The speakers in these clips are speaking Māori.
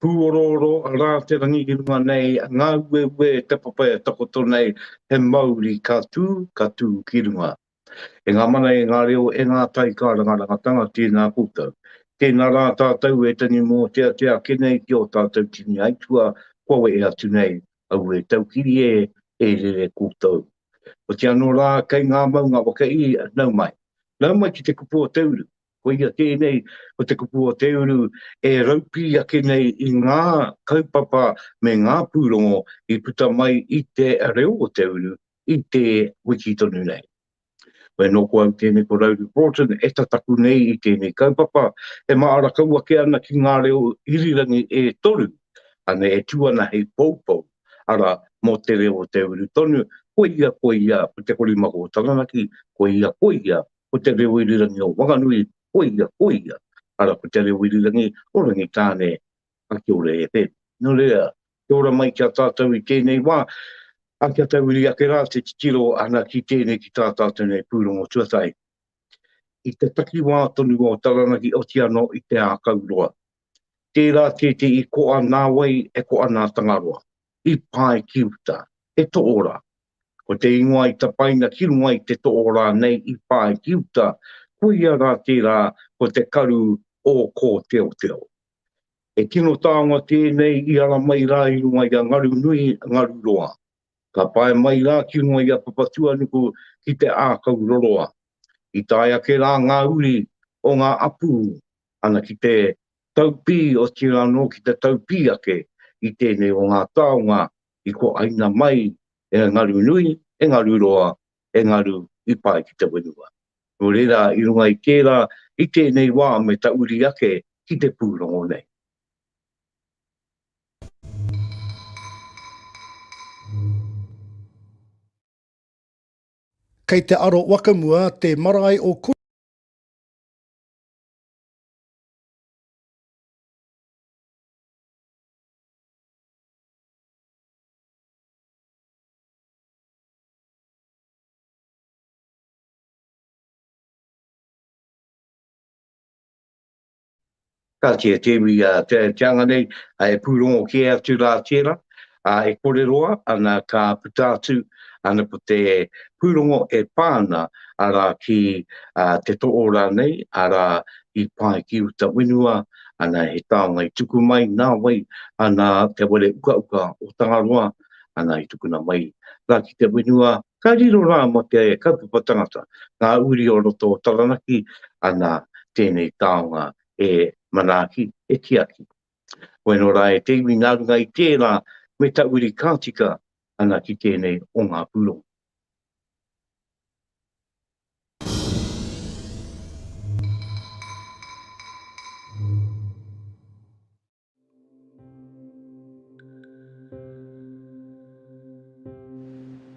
Pūorooro rā te rangi ki runga nei, ngā ueue te papa e takoto nei, he mauri ka tū, ka tū ki runga. E ngā mana, e ngā reo, e ngā tai kārangarangatanga, tēnā koutou. Tēnā rā tātou e tani mōteatea ake nei ki ō tātou tini aituā kua wehe atu nei, aue taukiri e, e rere koutou. Otianō rā, kei ngā maunga waka i, nau mai. Nau mai ki te kupu o te uru, Koia tēnei, ko te kupu o te uru e raupī ake nei i ngā kaupapa me ngā pūrongo i puta mai i te reo o te uru i te wiki tonu nei. Koia nō ko au tēnei ko Rowley Broughton e tataku nei i tēnei kaupapa e māra kau ake ana ki ngā reo irirangi e toru, ane e tū ana hei poupou, arā, mō te reo o te uru tonu, koia, koia, ko Te Korimako o Taranaki, koia, koia, Ko te reo irirangi o Whanganui, koia, koia, ara ko te reo irirangi o Rangitāne. Ka kia ora e Pep. No reira, kia ora mai ki a tātou i tēnei wā, a kia tauiri ake rā te titiro ana ki tēnei ki tā tātou nei pūrongo tuatahi. I te takiwā tonu o Taranaki oti anō i Te Ākauroa. Tērā tēti i koa nā wai e koa nā Tangaroa. I pae ki uta. He toora, Ko te ingoa i tapaina ki runga i te toʻo rānei i pā ai ki uta, koia rā tērā ko te karu ō kōteoteo. He tino taonga tēnei i ara mai rā i runga i a Ngarunui, Ngaruroa. Ka pae mai rā ki runga i a Papatuanuku ki te ākau roroa. I tae ake rā ngā uri o ngā apū ana ki te taupī, otirā anō ki te taupī ake i tēnei o ngā taonga i ko ainga mai e ngaru nui, e ngaru roa, e ngaru i pae ki te wenua. No reira i runga i tera, i tenei wa me ta uri ake ki te purongo nei. Kei te aro wakamua te marae o. Ka kite te iwi te anga nei, e pūrongo kē atu rā tērā, e kōrero ana ka puta atu ana ko te pūrongo e pā ana arā ki te toʻō rānei, arā i pae ki uta whenua, ana he taonga i tuku mai nā wai ana te ware ukauka o Tangaroa ana i tukuna mai ra ki te whenua ka riro rā mo te kaupapa tangata ngā uri o roto o Taranaki ana tēnei taonga e manaaki e tiaki weno rā e te iwi nā runga i tērā me ta uri ka tika ana ki tēnei o ngā pūrongo.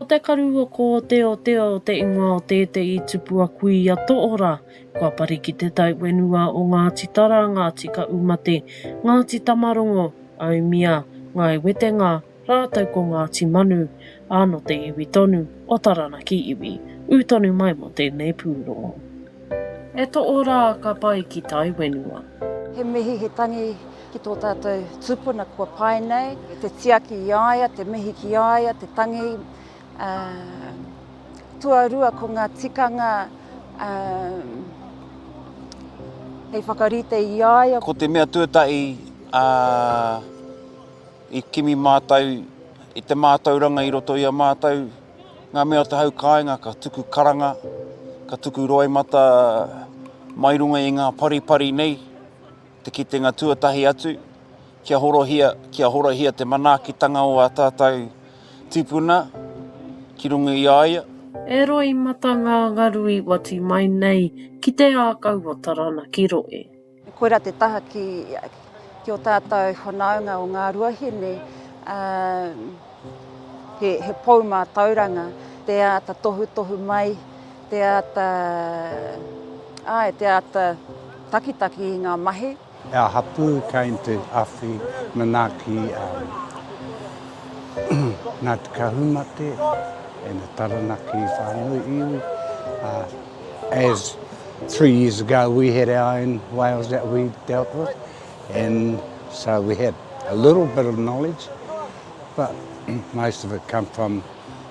Ko te karu o kōteotea o te ingoa o tētehi tupu a Kuia Toora, kua pari ki te tai whenua o Ngāti Tara, Ngāti Kaumate, Ngāti Tamarongo, Aumia, Ngāi Wetenga, Rātou ko Ngāti Manu, ā, nō te iwi tonu o Taranaki iwi, ū tonu mai mō tēnei pūrongo. E toʻo rā ka pae ki tai wenua. He mihi, he tangi ki tō tātou tūpuna kua pae nei. Te tiaki i a ia, te mihi ki a ia, te tangi. Tuarua ko ngā tikanga hei whakarite i a ia. Ko te mea tuatahi a. I kimi mātou i te mātauranga i roto i a mātou ngā mea o te hau kāinga ka tuku karanga, ka tuku roimata mai runga i ngā paripari nei, te kitenga tuatahi atu, kia horohia, kia horahia te manaakitanga o ā tātou tīpuna ki runga i a ia. E roimata ngā ngaru i wati mai nei ki te ākau o Taranaki Rohe. Koirā te taha ki ki o tātou whanaunga o ngā ruahine, ā, he, he pou mātauranga, te āta tohutohu mai, te āta, āe, te āta takitaki i ngā mahi. Our hapū came to awhi manaaki um Ngāti Kahumate and the Taranaki whānui iwi, ā. As three years ago we had our own whales that we dealt with and so we had a little bit of knowledge but most of it come from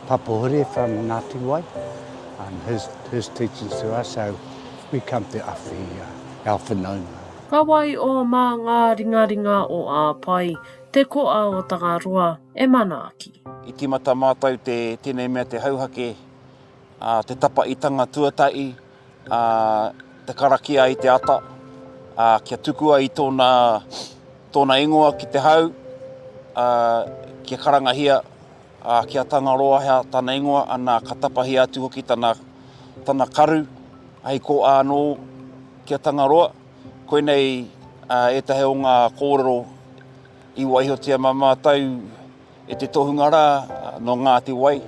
Papa Hure from Ngati Wai and his, his teachings to us so we come to awhi, uh, our whanaunga. Ka wai o mā ngā ringaringa o Āpae, te koa o Tangaroa e manaaki. I tīmata mātou te tēnei mea te hauhake. te tapaitanga tuatahi, te karakia i te ata, kia tukua i tōna ingoa ki te hau, kia karangahia, kia Tangaroahea tana ingoa, ana ka tapahia atu hoki tana karu hei kōa anō ki a Tangaroa. Koinei ētahi o ngā kōrero i waihotia mā mātou. E te tohunga rā nō Ngāti Wai.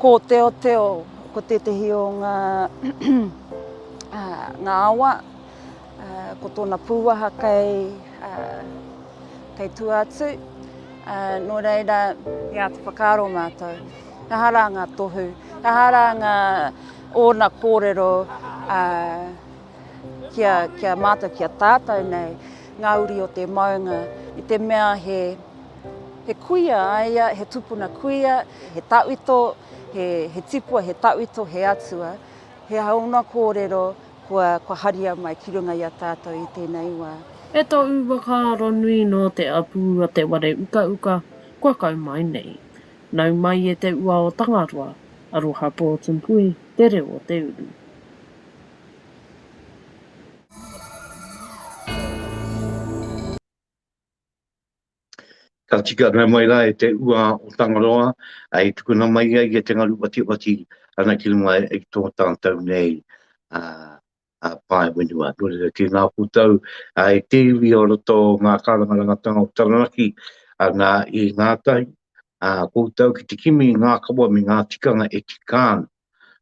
Ko Teoteo, ko tētehi o ngā ngā awa, ko tōna pūwaha kei, kei tua atu, nō reira, i āta whakaaro mātou, he aha rā ngā tohu, he aha rā ngā, ōna kōrero, ki a, ki a mātou, ki a tātou nei, ngā uri o te maunga, i te mea he, he kuia a ia, he tupuna kuia, he tauito, he, he tipua, he tauito, he atua, he haona kōrero kua, kua haria mai ki runga i a tātou i tēnei wā. E to u whakaaro nui no te apu a te ware uka uka kua kau mai nei. Nau mai e te ua o Tangaroa, aroha Portmpuhi, te reo o te uru. Ka tika noa mai rā e te ua o Tangaroa, i tukuna mai ai e te ngaru watiwati ana ki runga i tō tātou nei pae whenua. Nō reira, tēnā koutou e te iwi o roto o ngā kārangarangatanga o Taranaki, nā, i ngātahi koutou ki te kimi i ngā kawa me ngā tikanga e tika ana.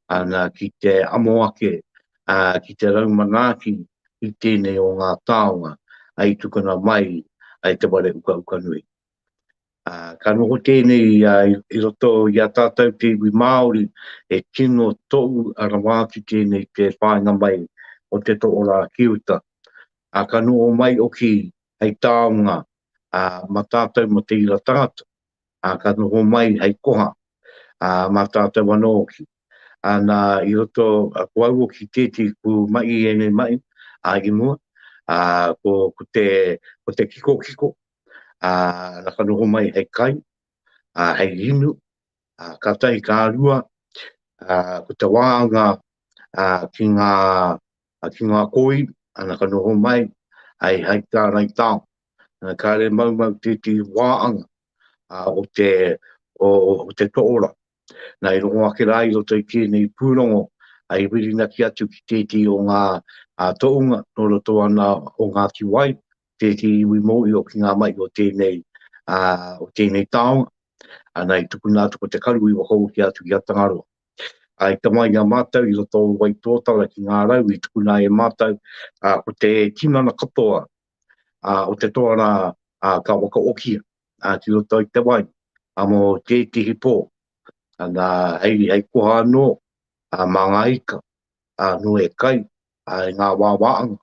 ana ki te amo ake, ā, ki te rau manaaki i tēnei o ngā taonga i tukuna mai i te ware ukauka nui. Ā, ka noho tēnei i roto i a tātou te iwi Māori e tino tou rawa atu tēnei te whāinga mai o te toʻora ki uta. Ā, ka noho mai hoki hei taonga mā tātou mō te ira tangata. ā, ka noho mai hei koha, ā, mā tātou anō hoki. Ā, nā, i roto, ko au hoki tēti ku mahi i ēnei mahi, ā, i mua, ā, ko, ko te, ko te kikokiko, ā, na ka noho mai hei kai, ā, hei inu, ā, ka tahi, ka rua, ā, ko te wānga, ā, ki ngā, ki ngā kōiwi, ā, na ka noho mai, hei, hei tārai tao. Kāre maumau tētehi wā anga o te o te toora. Nā, i rongo ake rā i roto i tēnei pūrongo, i whirinaki atu ki tētehi o ngā tohunga nō roto ana o Ngāti Wai, tētehi iwi mōhio ki ngā mahi o tēnei o tēnei taonga. Nā, i tukuna atu ko te karu i whakaohia atu ki a Tangaroa. I tama i a mātou i roto o Waitōtara ki ngā rau i tukuna e mātou ko te tinana katoa ā, o te toa rā, ā, ka wakaokia, ā, ki roto i te wai, ā, mō tētehi pō, ā, nā, hei, hei koha anō, ā, mā ngā ika, ā, nō e kai, ā, i ngā wāwāanga,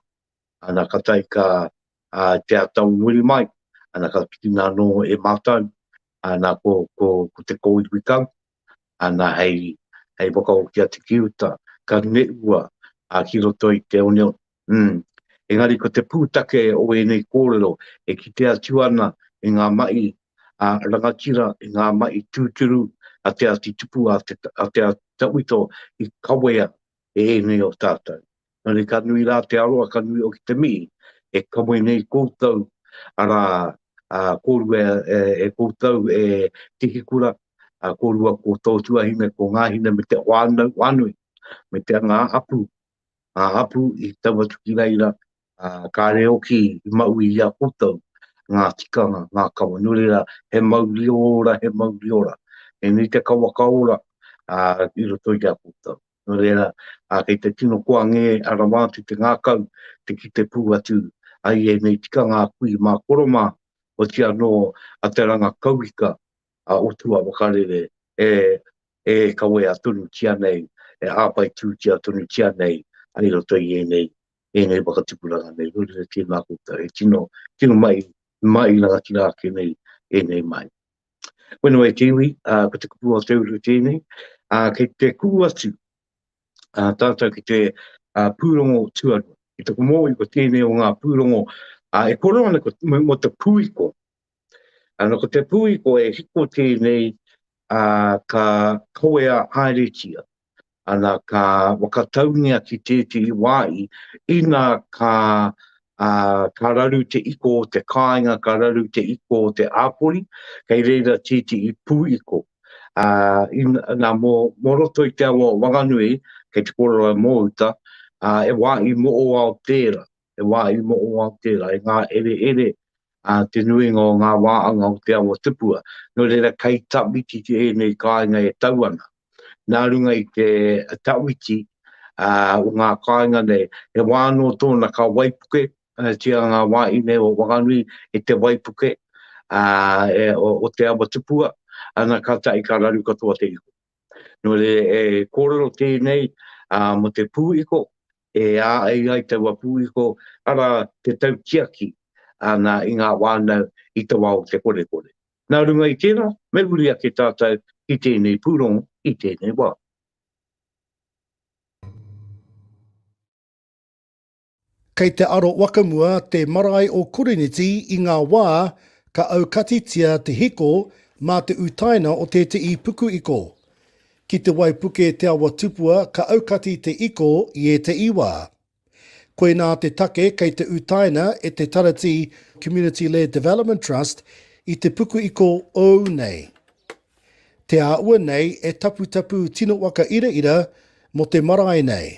ā, nā, ka tae ka, ā, te atau muri mai, ā, nā, ka tukuna anō e mātou, ā, nā, ko, ko, ko te kōiwi kau, ana hei whakahoki atu ki uta, ka ngeua ki roto i te oneone. Umm. Engari ko te pūtake o ēnei kōrero e kite atu ana i ngā mahi rangatira, i ngā mahi tūturu a Te Āti Tupu, a Te Āti Tauito i kawea e ēnei o tātou. Nōreira ka nui rā te aroha, ka nui hoki te mihi e kawē nei koutou, arā, kōrua e koutou e Tihikura, kōrua ko tō tuahine, ko ngā hine me te whānau whānui, me te ngā hapū, ngā hapū i tau atu ki reira, kāre hoki i maui i a koutou ngā tikanga, ngā kawa. Nōreira, he mauri ora, he mauri ora. Tēnei te kawa ka ora i roto i a koutou. Nō reira, kei te tino koa ngē a rawa atu te ngākau te kite pū atu ai ēnei tikanga a kui mā koro mā, oti anō a te ranga kauika a Otua Wakarere e e kawea tonutia nei, e āwhai tūtia tonutia nei i roto i ēnei, ēnei whakatupuranga nei. Nō reira, tēnā koutou, he tino, tino mahi, mahi rangatira ake nei ēnei mahi. Whenua i te iwi, ko te kupu o te uru tēnei. Kei te kuhu atu tātou ki te pūrongo tuarua. Ki te komoi, ko tēnei o ngā pūrongo e koro ana mō te pūiko. Ano ko te pūiko e hiko tēnei ka kawea haeretia. ana ka whakataungia ki tētehi wāhi, ina ka, ā, ka raru te iko o te kāinga, ka raru te iko o te āpori, kei reira tētehi pūiko. Ā, ina, nā, mō, mō roto i te awa o Wanganui, kei te kōrero e Mōuta, ā, he wāhi moʻowao tērā. te wāhi moʻowā o tērā, e ngāereere te nuinga o ngā wāanga o te awa tupua. Nō reira, kei tawhiti ēnei kāinga e tau ana. Nā runga i te tawhiti o ngā kāinga nei, he wā anō tōna ka waipuketia ngā wāhine o Whanganui e te waipuke o te awa tupua, ana kātahi ka raru katoa te ihu. Nō reira, e kōrero tēnei mō te pū iko, E āei ai taua pūiko, arā, te tautiaki āna i ngā whānau i te wā o te korekore. Nā runga i tērā, me huri ake tātou ki tēnei pūrongo i tēnei wā. Kei te aro wakamua te marae o Koriniti i ngā wā ka aukatitia te hiko mā te utaina o tēteī pukuiko. Ki te waipuke te awa tupua ka aukati te iko i etaii wa. Koinā te take kei te utaina e te Taratī Community Led Development Trust i te puku iko ou nei. Te āua nei e taputapu tino waka iraira mo te marae nei.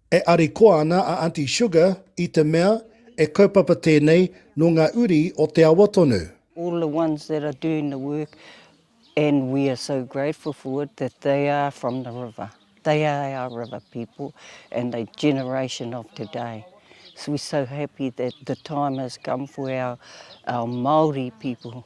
E arikoa ana a Aunty Sugar i te mea e kaupapa tēnei nō ngā uri o te awa tonu. All the ones that are doing the work and we are so grateful for it that they are from the river, they are our river people and the generation of today. So we're so happy that the time has come for our Māori people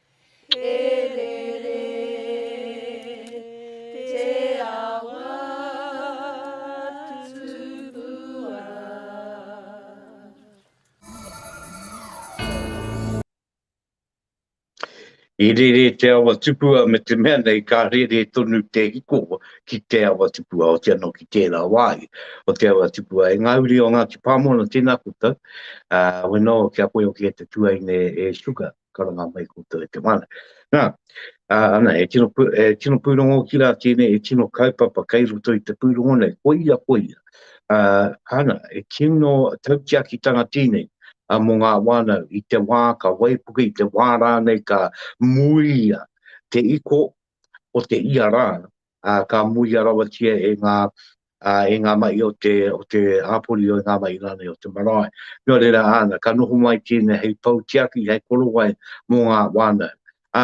E rere te awa tupua me te mea nei ka rere tonu te hiko ki te awa tupua o te ano ki tera wai o te awa tupua e nga uri o Ngati Pamona tena koutou uh, weno kia koe o kia te tuaine e suka karanga mai koutou e te Wana. Nā, ā, ana, e tino, pū, e tino pūrongo ki rā tēnei, e tino kaupapa kei roto i te pūrongo nei, koia, koia. Ā, ana, e tino tautiakitanga tēnei, a mō ngā wānau, i te wā ka waipuke, i te wā rānei ka muia te iko o te ia rā, ka muia rawatia e ngā, e ngā mahi o te, o te hapori o ngā mahi rānei o te marae. Nō reira, āna, ka noho mai tēnei hei pou tiaki, hei korowai mō ngā whānau. Ā,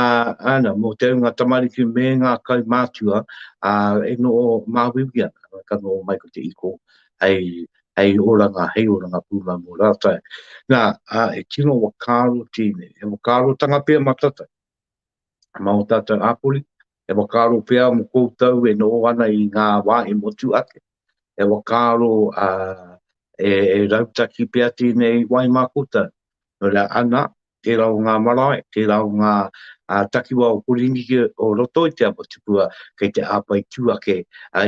āna, mō te ūnga tamariki me ngā kaumātua, ā, e noho māuiui ana, ka noho mai ko te iko hei, hei oranga, hei oranga pūmau mō rātou. Nā, ā, he tino whakaaro tēnei, he whakaarotanga pea matatai mā ō tātou hapori, E whakaaro pea mo koutou e noho ana i nga wa e motu ake. E whakaaro a e rautaki pea tenei wai ma koutou. No reira ana, tera o nga marae, tera o nga takiwa o Porinike o roto i te Apatipua kei te apai tu ake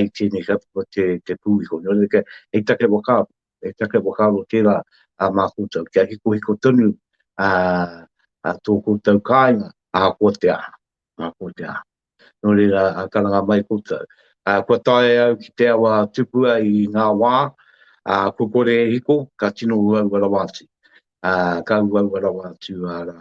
i tenei kaupapa te pu iho. No reira hei take whakaaro, hei take whakaaro tera ma koutou. Kia hikohiko tonu to koutou kainga ahakoa te aha. Ngā pōtēhā. Nō reira, ā, karanga mai koutou. Ā, kua tae au ki te awa tupua i ngā wā, ā, kua kore e hiko, ka tino uaua rawa atu. Ā, ka uaua rawa atu, arā,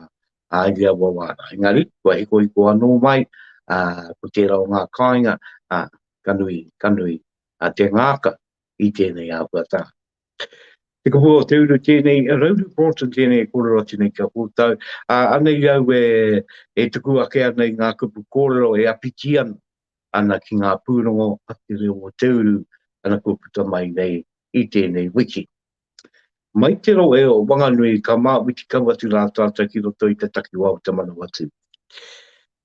ā, i ia wawā rā. Engari, kua hikohiko anō mai, ā, ko tērā o ngā kāinga, ā, ka nui, ka nui, ā, te ngākau i tēnei āhuatanga. Te Kohu o te Uru tēnei, Rauru Broughton tēnei e kōrero atu nei ki a koutou. Ā, anei au e, e tuku ake ana i ngā kupu kōrero e awhiti ana, ana ki ngā pūrongo a te reo o te uru, ana kua puta mai nei i tēnei wiki. Mai te rohe o Wanganui ka māwiti kau atu rā tātou ki roto i te takiwā o Te Manawatū.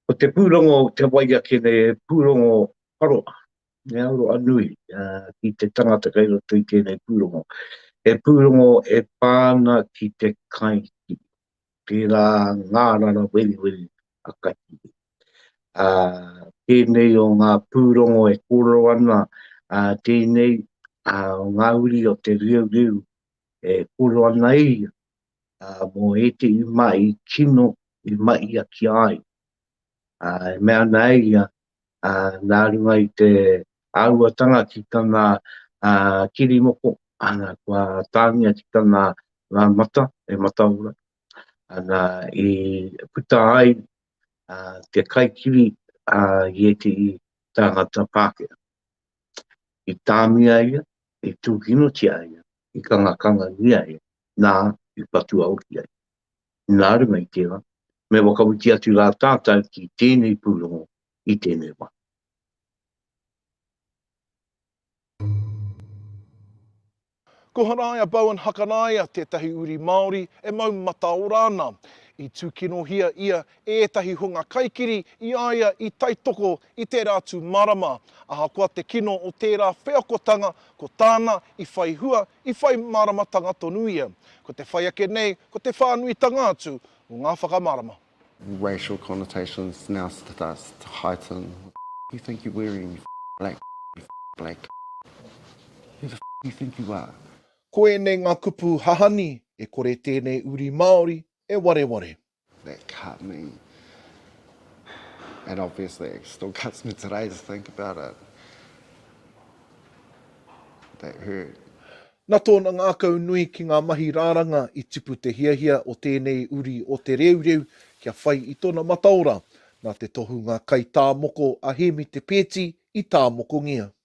Ko te pūrongo o te wai ake nei he pūrongo paroa, He aroha nui ki te tangata kei roto i tēnei pūrongo. He pūrongo e pā ana ki te kaitiaki, tērā ngārara weriweri a kaitiaki. Tēnei o ngā pūrongo e kōrero ana tēnei o ngā uri o te reureuru e kōrero ana e ia mō ētehi mea i tino i mahiakia ai. E mea ana e ia nā runga i te āhuatanga ki tana kiri moko, ana, kua tāngia ki tana ngā mata e mataora, ana, i puta ai te kaikiri i ētehi tāngata Pākehā. I tāmia ia, i tūkinotia ia, i kangakanga ia ia, nā, i patua hoki ia. Nā runga i tērā, me whakawhiti atu rā tātou ki tēnei pūrongo i tēnei wā. Ko Haraia Bowen Hakaraia tētahi uri Māori e mau mataora ana. I tūkinohia ia ētahi hunga kaikiri i a ia i taitoko i tērā tū marama, ahakoa te kino o tērā wheakotanga ko tāna i whai hua, i whai māramatanga tonu ia. Ko te whai ake nei ko te whānuitanga atu o ngā whakamārama. racial connotations now starts to heighten, who do you think you're wearing you black you black who the do you think you are? Ko ēnei ngā kupu hahani e kore tēnei uri Māori e wareware. That cut me. And obviously it still cuts me today to think about it. That hurt. Na tōna ngākau nui ki ngā mahi rāranga i tipu te hiahia o tēnei uri o Te Reureu kia whai i tona mataora, na te tohunga kai tā moko a Hēmi Te Peeti i tāmokongia.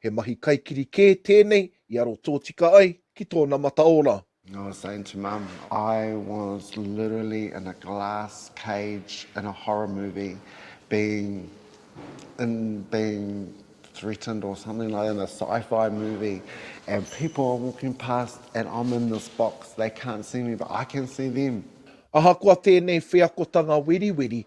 He mahi kaikiri kē tēnei i aro tōtika ai ki tōna mataora. I was saying to mum, I was literally in a glass cage in a horror movie being in being threatened or something like that in a sci-fi movie and people are walking past and I'm in this box, they can't see me but I can see them. Ahakoa tēnei wheakotanga weriweri,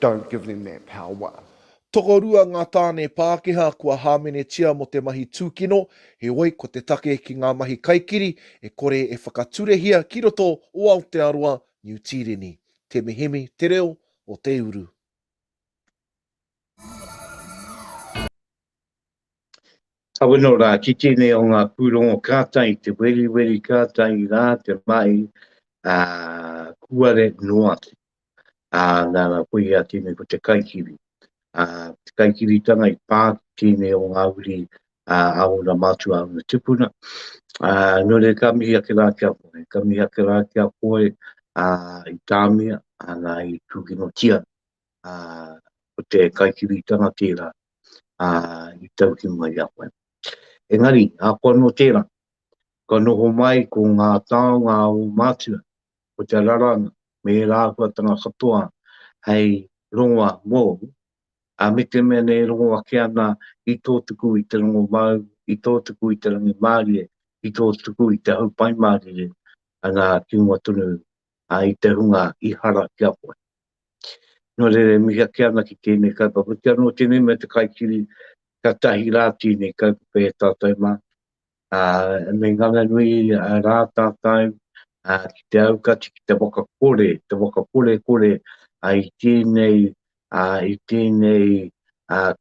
Don't give them that power. Tokorua ngā tāne Pākehā kua hāmenetia mō te mahi tūkino, heoi ko te take ki ngā mahi kaikiri e kore e whakaturehia ki roto o Aotearoa, Niu Tīreni. Te Mihimi, Te Reo o te Uru. Kawino rā, ki tēnei o ngā pūrongo kātai, te weriweri kātai rā, te mahi, ā, kūare noa atu. Ā, nana, koia tēnei ko te kaikiri. Ā, te kaikiritanga i pā ki tēnei o ngā uri, ā, a ōna mātua, a ōna tupuna. Ā, nō reira, ka mihi ake rā ki a koe, ka mihi ake rā ki a koe, ā, i tāmia, ā, nā, i tūkinotia ko te kaikiritanga tērā i tau ki mua i a koe. Engari, ahakoa nō tērā, kua noho mai ko ngā taonga a ō mātua, ko te raranga me ērā āhuatanga katoa hei rongoa mōu, ā, me te mea nei e rongo ake ana i tō tuku i te rongomāu, i tō tuku i te rangimārie, i tō tuku i te hau paimārire, ana, ki mua tonu i te hunga i hara ki a koe. Nō reira e mihi ake ana ki tēnei kaupapa, oti anō tēnei mea te kaikiri kia tahi rā tēnei kaupapa e tātou mā, ā, me ngana nui rā tātou ki te aukati, ki te whakakore, te whakakorekore i tēnei, i tēnei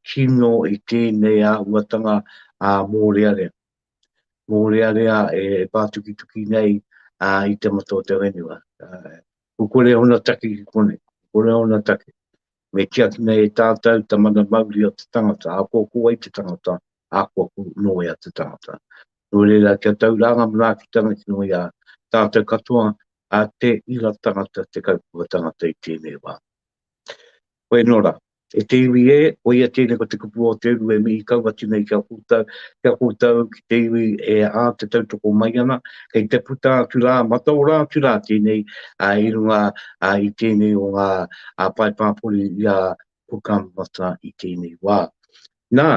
kino, i tēnei āhuatanga mōrearea, mōrearea e pātukituki nei i te mata o te whenua. Ko kore ona take ki konei, ko kore ona take, me tiakina e tātau ta mana mauri o te tangata, akoako ai te tangata, akoako no ia te tangata. No reira, kia tau rā nga manaakitanga ki runga i a tātau katoa, a te ira tangata, te kaupapa tangata i tēnei wā. Koe no rā, E te iwi e, koia tēnei ko te kupu o te uru e mihi kau atu nei ki a koutou, ki a koutou, ki te iwi e ā te tautoko mai ana, kei te puta atu rā, mataora atu rā tēnei i runga i tēnei o ngā pae pāpori i a Cook Amata i tēnei wā. Nā,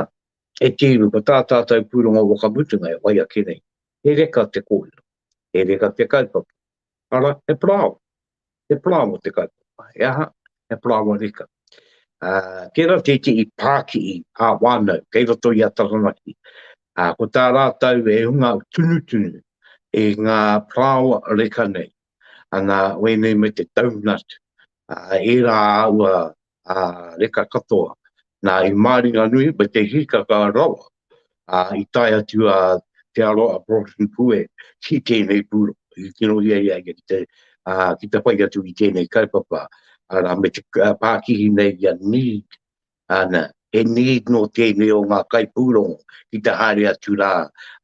e te iwi, ko tā tātou pūrongo whakamutunga e whai ake nei, he reka te kōrero, he reka te kaupapa, arā, he parāoa, He palawa te kaupapa, he aha? He palawa reka. Uh, tērā tētehi pākihi ā wānau kei roto i a Taranaki. Uh, ko tā rātau e hunga tunutunu e ngā palawa reka nei. Ana, wēnei me te donut, uh, ērā aua ā, reka katoa. Nā, i Māringanui, me te hīkaka rawa, ā, i tae atu a Te Aroha a Broughton Pue ki tēnei pūrongo, i tirohia ia ia ki te, ā, ki te whai atu i tēnei kaupapa, arā, me te pākihi nei ia need, ana, he need nō tēnei o ngā kaipūrongo ki te haere atu rā,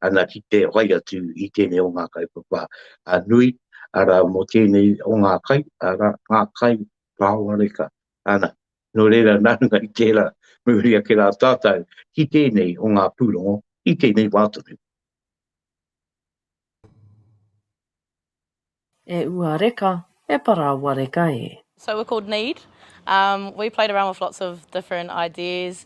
ana, ki te whai atu i tēnei o ngā kaupapa nui, arā, mō tēnei o ngā kai, arā, ngā kai Kaoreka, ana, nō reira nā runga i tērā me uri ake rā tātou ki tēnei o ngā pūrongo i tēnei wā tonu. E ua reka, e parāoa reka e. So we're called Need. Um, we played around with lots of different ideas.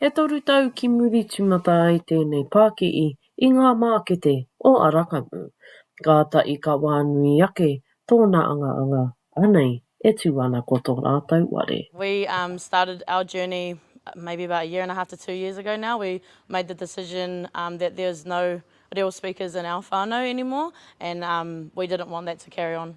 E toru tau ki muri tīmata ai tēnei pākihi i ngā mākete o Arakamu, kāta i kawā nui ake tōna angaanga, anei e tū ana ko tō rātou ware. We started our journey maybe about a year and a half to two years ago now, we made the decision that there was no reo speakers in our whānau anymore and we didn't want that to carry on.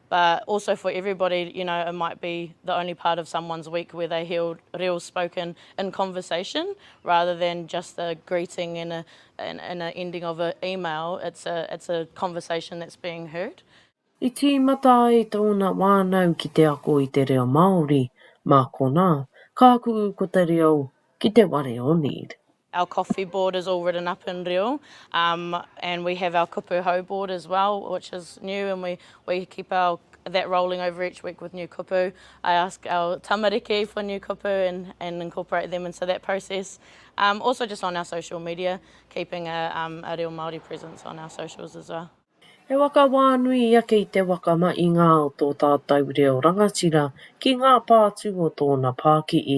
But also for everybody, you know, it might be the only part of someone's week where they hear reo spoken in conversation rather than just the greeting and a and a ending of a email, it's a it's a conversation that's being heard. I tīmata ai tōna wānau ki te ako i te reo Māori, mā konā, kākū ko te reo ki te ware o need. Our coffee board is all written up in reo um and we have our kupu hou board as well which is new and we we keep our that rolling over each week with new kupu. I ask our tamariki for new kupu and and incorporate them into that process. Um also just on our social media keeping a um a reo Māori presence on our socials as well. He waka wā nui i ake i te waka ma i ngā o tō tātau reo rangatira ki ngā pātū o tōna pākihi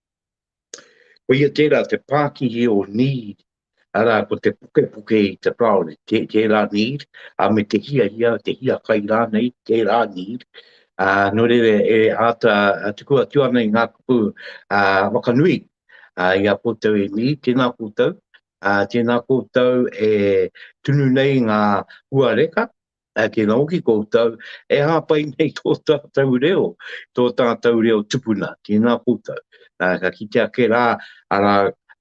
Koia tērā te pākihi o need, arā, ko te pukepuke i te kāore, tē, tērā need, a me te hiahia, te hiakai rānei, tērā need, a, nō reira e āta tuku atu ana i ngā kupu a, whakanui a, i a koutou e need, tēnā koutou, a, tēnā koutou e tunu nei ngā hua reka, Ake nō ki koutou e hāpai nei tō tātou reo, tō tātou reo tupuna, tēnā koutou. Ā, ka kite ake rā, arā,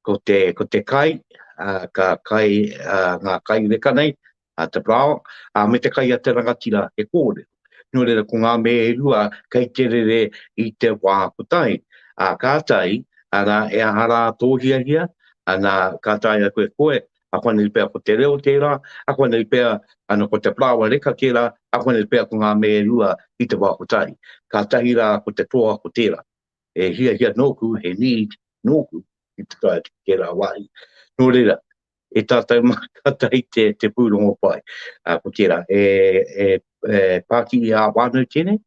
ko te, ko te kai, ā, ka kai, ā, ngā kai reka nei, ā, te parao, ā, me te kai a te rangatira he kōrero. Nō reira, ko ngā mea e rua kei te rere i te wā kotahi. Ā, kātahi, arā, e aha rā tō hiahia, ana, ka taea koe, koe, akoanei pea ko te reo tērā, akoanei pea ana ko te parāoa reka tērā, akoanei pea ko ngā me e rua i te wā kotahi. Kātahi rā ko te toa ko tērā. He hiahia nōku, he need nōku ki te tae atu ki tērā wāhi. Nō reira, e tātou mā kātahi te, te pūrongo pai. Uh, ko tērā, e, e, e pāki i ā wānau tēnei,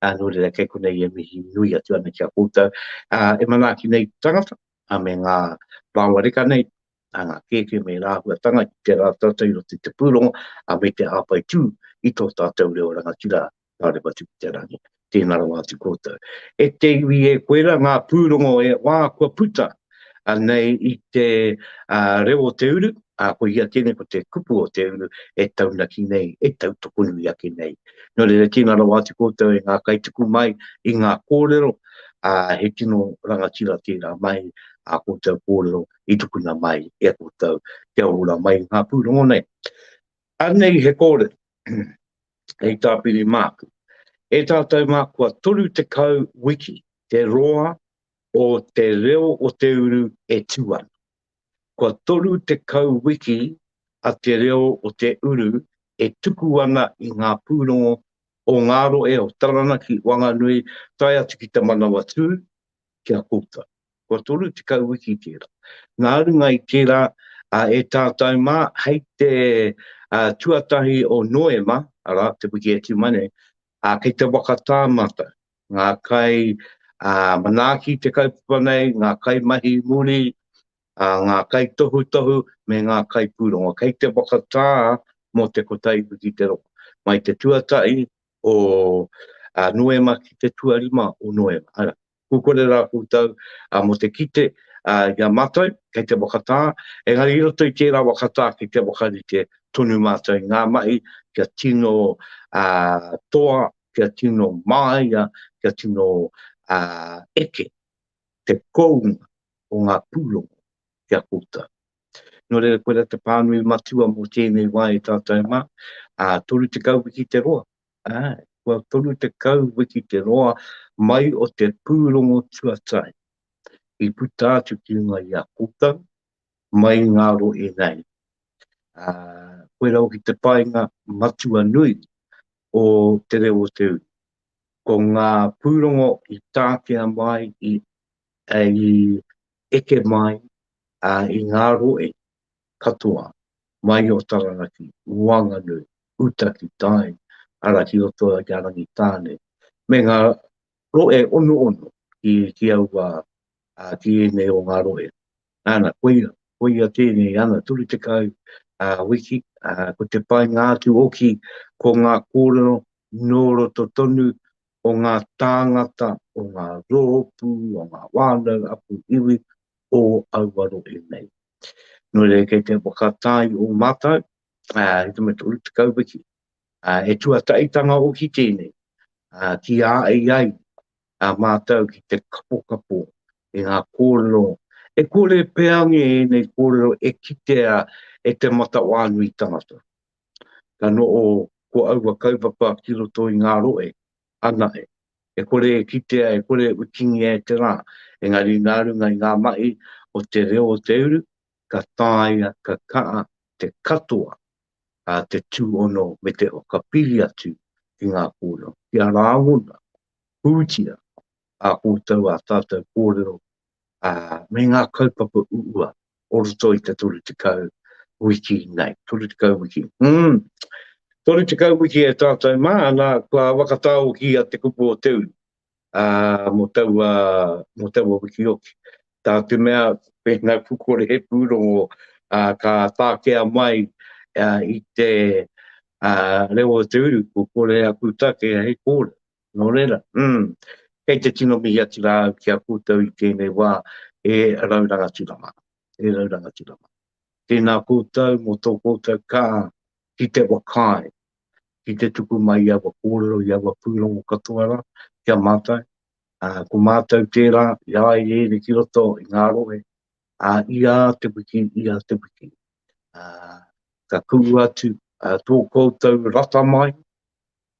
uh, nō reira kei konei e mihi nui atu ana ki a koutou. Uh, e manaaki nei tangata, a me ngā rāoa reka nei, a ngā kēkē me ngā āhuatanga ki te rā tātou i roto i te pūrongo, ā, me te hāpai tū i tō tātou reo rangatira Ngāri Matuku-te-rangi. Tēnā rawa atu koutou. E te iwi e koe ra ngā pūrongo e wā kua puta nei i te reo o te uru, ā, ko ia tēnei ko te kupu o te uru e taunaki nei, e tautoko nui ake nei. Nō reira, tēnā rawa atu koutou e ngā kaituku mai i ngā kōrero, ā, he tino rangatira tērā mai ā koutou kōrero i tukuna mai e a koutou kia ora mai nga purongo nei. Anei he kōrero hei tāpiri māku. E tātou mā kua 30 wiki te roa o te reo o te uru e tū ana. Kua 30 wiki a te reo o te uru e tuku ana i ngā pūrongo o Ngāroe, o Taranaki, Wanganui, tae atu ki te Manawatū, ki a koutou. Kua toru tekau wiki tērā. Nā runga i tērā, e tātou mā, hei te tuatahi o Noema, arā, te wiki e tima nei, kei te whakatā mātou, ngā kai manaaki te kaupapa nei, ngā kai mahi muri, ngā kai tohutohu, me ngā kai pūrongo. Kei te whakatā mō te kotahi wiki te roa. Mai te tuatahi, o Noema ki te tuarima o Noema, ara, kua kore rā koutou mō te kite i a mātou kei te whakatā, engari i roto i tērā whakatā ki te whakarite tonu mātou i ngā mahi kia tino toa, kia tino māia, kia tino eke te kounga o ngā pūrongo ki a koutou. Nō reira, koirā te pānui matua mō tēnei wā e tātou mā, ā, 30 wiki te roa, ā, kua 30 wiki te roa mai o te pūrongo tuatahi i puta atu ki runga i a koutou, mai i ngā rohe nei. Ā, koirā hoki te painga matua nui o Te Reo o Te Uri. Ko ngā pūrongo i tākea mai i hei eke mai i ngā rohe katoa mai o Taranaki, Wanganui, uta ki tai, ara ki roto i a Rangitāne, me ngā rohe onoono ki aua, ki ēnei o ngā rohe. Nana, koia, koia tēnei ana 30 wiki, ko te painga atu oki ko ngā kōrero nō roto tonu o ngā tāngata, o ngā roopu, o ngā whānau a ku iwi o aua rohe nei. Nō reira kei te whakatai o mātou i te mea 30 wiki, he tuataitanga oki tēnei ki a ai ai a mātou ki te kapokapo i ngā kōrero e kore pea nge ēnei kōrero e kitea e te matawānui tangata. Ka noho ko aua kaupapa ki roto i ngā rohe, anahe, e kore e kitea, e kore e wikingia e te rā, engari nā runga i ngā mahi o te reo o te uru, ka taea, ka kaha te katoa te tūhono me te whakapiri atu ki ngā kōrero, kia rāngona pūtia ā koutou, ā tātou kōrero, ā, me ngā kaupapa uua o roto i te 30 wiki nei. 30 wiki. Hum! 30 wiki e tātou mā, nā, kua whakatāokia te kupu o te uri, ā, mō taua, mō taua wiki hoki. Tā te mea, pēnā ku kore he pūrongo, ā, ka takea mai, ā, i te, ā, reo o te uru, ko kore aku take hei kōrero. Nō reira, umm, kei te tino mihi atu rā au ki a koutou i tēnei wā, e rau rangatira mā, e rau rangatira mā. Tēnā koutou mō tō koutou kaha ki te whakaae, ki te tuku mai i aua kōrero, i aua pūrongo katoa rā ki a mātou, ā, ko mātou tērā, i a i ēnei ki roto i ngā rohe, ā, i ā te wiki, i ā te wiki, ā, ka kuhu atu, ā, tō koutou rata mai,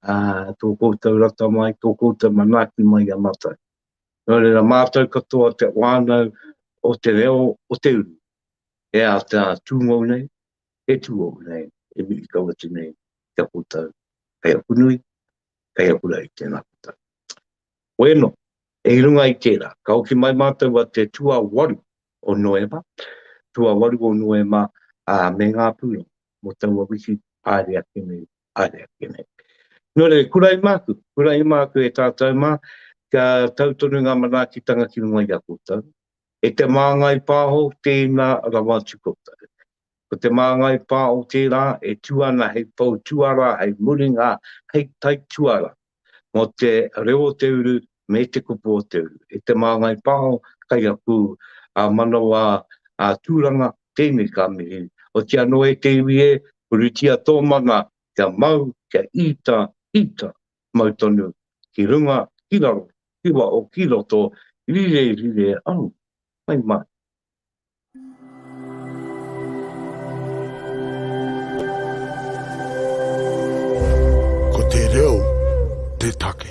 ā, tō koutou rata mai, tō koutou manaaki mai i a mātou. Nō reira, mātou katoa te whānau o te reo o te uru, he āta tūngou nei, he tūohu nei, e mihi kau atu nei ki a koutou. Hei aku nui, kei aku rā i tēnā puta. Wēno, i runga i tērā, ka hoki mai mātou a te tuawaru o Noema, tuawaru o Noema, ā, me ngā pūrongo mō taua wiki haere ake nei, haere ake nei. Nō reira, kura i māku, kura i māku e tātou mā, kia tau tonu ngā manaakitanga ki runga i a koutou. E te māngai pāho, tēnā rawa atu koutou. Ko te māngai pā o tērā e tū ana hei pou tuarā, hei muringa, hei tai tuarā mō te reo o te uru me te kupu o te uru. E te māngai pā o kai aku manawa tūranga, tēnei ka mihi. Oti anō e te iwi e, puritia tō mana kia mau, kia ita, ita, mau tonu, ki runga, ki raro, ki waho, ki roto, rire, rire, au, mai mai. Ko te reo te take.